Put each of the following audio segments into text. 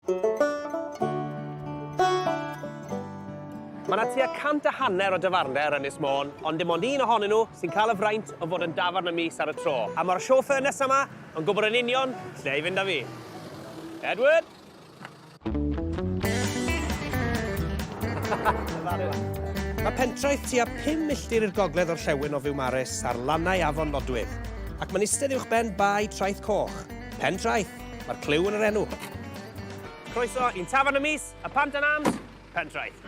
Mae 'na tua cant a hanner o dafarndai ar Ynys Môn, ond dim ond un ohonyn nhw sy'n cael y fraint o fod yn dafarn y mis ar y tro. A mae'r chauffeur nesa 'ma yn gwybod yn union lle i fynd â fi. Edward! Mae pentraeth tua 5 milltir i'r gogledd o'r llewyn o Fiwmares ar lannau afon Nodwydd, ac mae'n istedd uwchben bae Traeth Coch. Pen traeth! Mae'r clyw yn yr enw. Croeso i'n tafarn y mis, y Pant yn Arms, Pentraeth.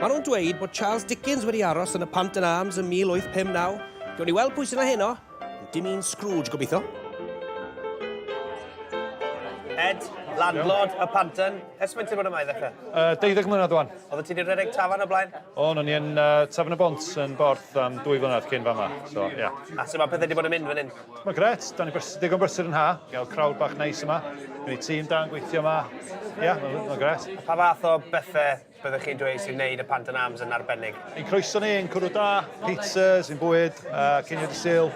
Mae nhw'n dweud bod Charles Dickens wedi aros yn y Pant yn Arms yn 1859. Gwni weld pwy sy'n heno. Dim un Scrooge, gobeithio. Ed, landlord y Panton. Ers mae'n ti'n bod yma i ddechrau? Uh, 12 mlynedd o'n. Oedd ti wedi rhedeg tafan o blaen? O, o'n i'n uh, tafan y bont yn borth am dwy flynedd cyn fama. So, yeah. A sy'n mae pethau wedi bod yn mynd fan hyn? Mae gret, dan ni'n digon brysur yn ha, gael crowd bach neis yma, gwneud tîm da yn gweithio yma, ia, mae'n gret. Pa fath o bethe byddech chi'n dweud sy'n neud y Pant and Arms yn arbennig? Ein croeso ni, ein cwrw da, pizzas, ein bwyd, ceiniog y Sul,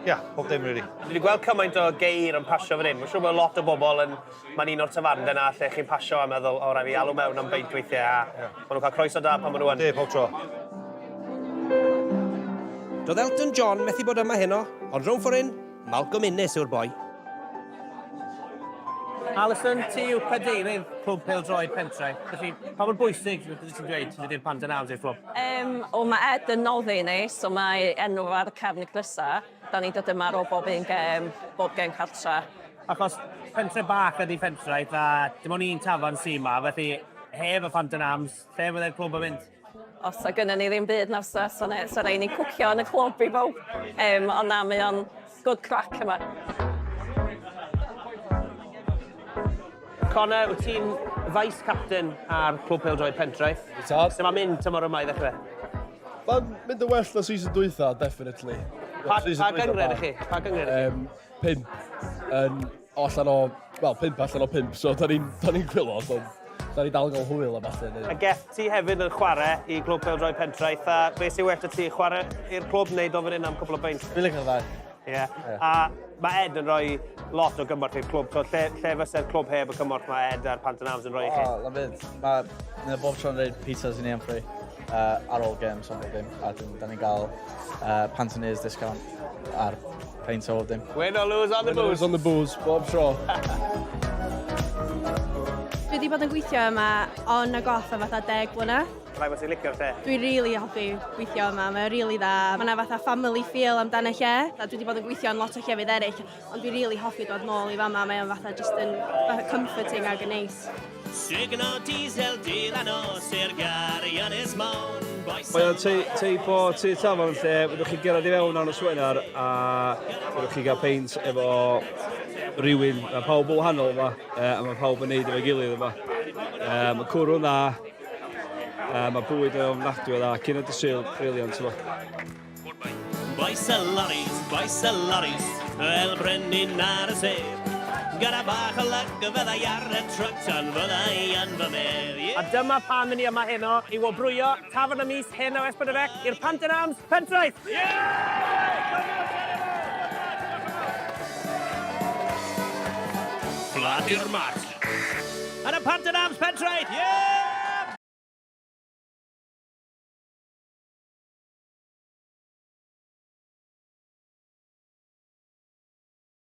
ia, pob dim rili. Dwi 'di gweld cymaint o geir yn pasio fan hyn, mae'n siŵr bod lot o bobl yn Mae'n un o'r tafarndai 'na lle chi'n pasio a meddwl, o, rai' fi alw mewn am beint weithie, a ma' nhw'n cael croeso da pan ma' nhw yn. Yndi, pob tro. Doedd Elton John methu bod yma heno, ond rownd ffor' hyn, Malcolm Innes yw'r boi. Alison, ti yw cadeirydd Clwb Pêl-droed Pentre, felly pa mor bwysig ti'n dweud fod i'r Panton House i'r clwb? Yym, wel ma' Ed yn noddi ni, so mae enw ar y cefn y crysau. Da ni'n dod yma ar ôl bob un gêm, bob gêm cartra. Achos pentre bach ydy Pentraeth a dim ond un tafarn sy' yma, felly heb y pant yn arms, lle fyddai'r clwb yn mynd? Os sa gynnon ni ddim byd na fysa, sa ne- sa raid ni cwcio yn y clwb i bawb. Yym ond na, mae o'n good crack yma. Connor, wyt ti'n vice-captain ar Clwb Pêl-droed Pentraeth? Wyt. Sut mae'n mynd tymor yma i ddechrau? Mae'n mynd yn well na season dwytha, definitely. Pa, pa gyngred i chi? Pa gyngred i chi? Um, pimp. Um, allan o, wel, pimp allan o pimp, so da ni'n ni gwylod, so da ni dal yn cael hwyl a falle. A gell ti hefyd yn chwarae i glwb Peldroed Pentraeth, a beth sy'n well y ti, chwarae i'r clwb wneud o fan hyn am cwbl o beint? Fi'n licio fe. Ie. A mae Ed yn rhoi lot o gymorth i'r clwb. So, lle, lle fyse'r clwb heb y cymorth mae Ed a'r Pant yn Arms yn rhoi i chi? O, lyfydd. Mae yna bob tro'n rhaid pizzas i ni am free uh, ar ôl games am ddim. A dyn, da ni'n cael uh, Pant yn Ears discount ar peint o ddim. Win or lose on the booze. Win or lose on the booze, bob tro. Dwi wedi bod yn gweithio yma on a goff am fatha deg blynedd. Rhaid bod ti'n licio'r lle. Dwi rili hoffi gweithio yma, mae o rili dda. Mae yna fatha family feel amdano lle. A dwi wedi bod yn gweithio yn lot o llefydd eraill, ond dwi rili hoffi dod nôl i fama, mae o'n fatha jyst yn fatha comforting ac yn neis. Sugno diesel dydd a nos i'r gari ynys mawr. Mae o'n teip o tu tafarn lle fyddwch chi'n gerad i fewn ar y swenar a fyddwch chi'n cael peint efo rhywun. Mae pawb yn wahanol yma, a mae pawb yn neud efo'i gilydd yma. Mae cwrw'n dda, Uh, mae bwyd yn ofnadwy o dda, cyn y dysil, briliant yma. Boes y loris, boes y loris, fel brenin ar y sef. Gyda bach o lyg, fydda i ar y trwt, ond fydda i yn fy medd. A dyma pam i ni yma heno, i wobrwyo tafon y mis hyn o Esbydrefec i'r Pant yn Arms Pentraeth! Yeah! Bladir Mark. Yn y Pant yn Arms Pentraeth! Yeah!